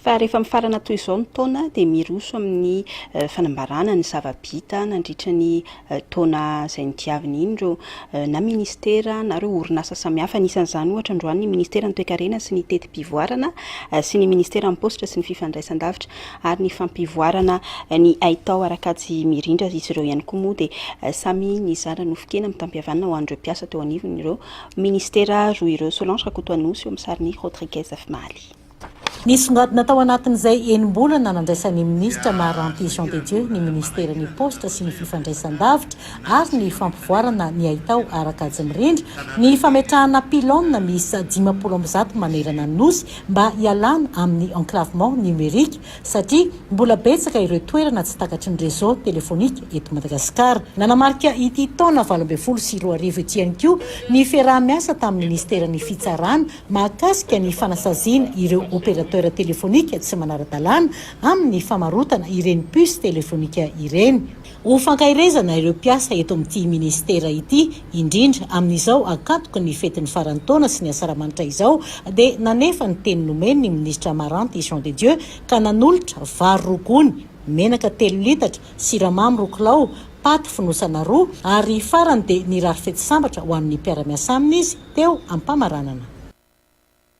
Fa rehefa mifarana toy izao ny taona dia miroso amin'ny fanambarana ny zava-bita nandritra ny taona izay nodiaviny iny ireo na ministera na ireo orinasa samihafa. Anisan'izany ohatra androany ny ministeran'ny toekarena sy ny teti-pivoarana sy ny ministeran'ny paositra sy ny fifandraisandavitra ary ny fampivoarana ny haitao ara-kajy mirindra. Izy ireo ihany koa moa dia samy nizara nofon-kena mitam-pihavanana ho an'ireo mpiasa teo anivon'ireo ministera roa ireo. Solange Rakotoanosy eo amin'ny sarin'i Rodriguez Afimaly. Nisongadina tao anatin'izay enim-bolana nandraisan'ny minisitra Maharanty Jean de Dieu ny minisiteran'ny Paositra sy ny fifandraisan-davitra ary ny fampivoarana ny haitao ara-kajy mirindra ny fametrahana pylônes miisa dimampolo amby zato manerana ny Nosy mba hialana amin'ny enclavement numérique satria mbola betsaka ireo toerana tsy takatry ny réseau téléphonique eto Madagasikara. Nanamarika ity taona valo ambin'ny folo sy roa arivo ity ihany koa ny fiaraha-miasa tamin'ny minisiteran'ny Fitsarana mahakasika ny fanasaziana ireo opérateur téléphonique tsy manara-dalàna amin'ny famarotana ireny puce téléphonique ireny. Ho fankaherezana ireo mpiasa eto amin'ity Minisitera ity, indrindra amin'izao ankatoky ny fetin'ny faran'ny taona sy ny asaramanitra izao, dia nanefa ny teny nomeny ny Minisitra Amaranty Jean de Dieu ka nanolotra vary roa gony, menaka telo litatra, siramamy roa kilao, paty fonosana roa, ary farany dia nirary fety sambatra ho an'ny mpiara-miasa aminy izy teo am-pamaranana.